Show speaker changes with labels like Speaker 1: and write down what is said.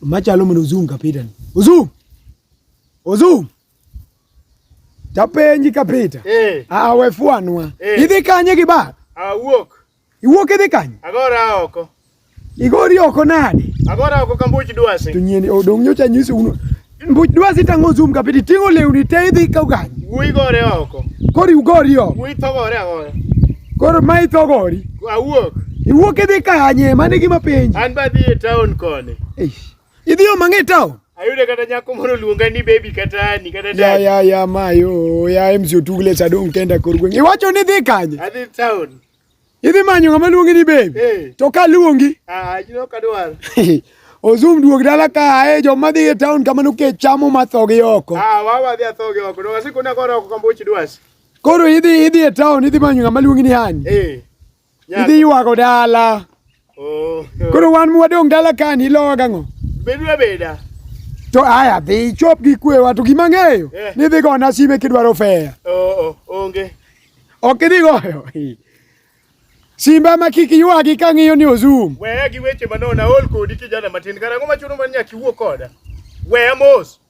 Speaker 1: Machalo mondo Ozum kapita ni. Ozum. Ozum. Tapenji kapita. Eh. Ah, we fuanwa. Eh. Idhi kanye gi ba? Awuok.
Speaker 2: Ah, Iwuok idhi
Speaker 1: kanye? Agora oko.
Speaker 2: Igori
Speaker 1: oko nade? Agora oko kambuch
Speaker 2: dwasi. To nyeni odong
Speaker 1: nyocha nyisi uno. Mbuch dwasi tango Ozum kapita itingo lewni te idhi ka uganye. Wuyi gore oko.
Speaker 2: Kori ugori oko.
Speaker 1: Wuyi thogore agora.
Speaker 2: Koro ma
Speaker 1: ithogori. Awuok.
Speaker 2: Iwuok idhi
Speaker 1: kanye? Mano e gima penjo. An badhi e town
Speaker 2: koni. Idhi yo
Speaker 1: mang'e town? Ayudo kata nyako
Speaker 2: moro luonga ni baby kata ni kata dad. Ya ya ya mayo,
Speaker 1: ya MC Otugle Sadong kenda kor gweng'. Iwacho ni dhi kanye? Adhi town.
Speaker 2: Idhi manyo
Speaker 1: ng'ama luongi ni baby. Hey. Eh. To ka luongi? Ah, you know kadwar.
Speaker 2: Ozum
Speaker 1: duog dala ka ae joma dhi e town kamano ke chamo mathogi oko. Ah, wawa dhi athogi
Speaker 2: oko. No, wasikuna koro oko kambuchi dwasi. Koro idhi
Speaker 1: idhi e town idhi manyo ng'ama luongi ni Hani. Eh. Idhi ywago dala. Oh. Koro wan mwadong' dala kani ilowa gang'o? Bedu abeda.
Speaker 2: To
Speaker 1: aya dhi chop gi kwewa to gima ng'eyo eh. ni dhi gona sime kidwaro fea. Oo oh, oh, onge.
Speaker 2: Ok idhi
Speaker 1: goyo. Simba ma kik ywagi ka ng'iyo ni ozum. Weya gi weche manona
Speaker 2: ol kodi kijana matin karang'o machuno man nyaka iwuo koda. Weya mos.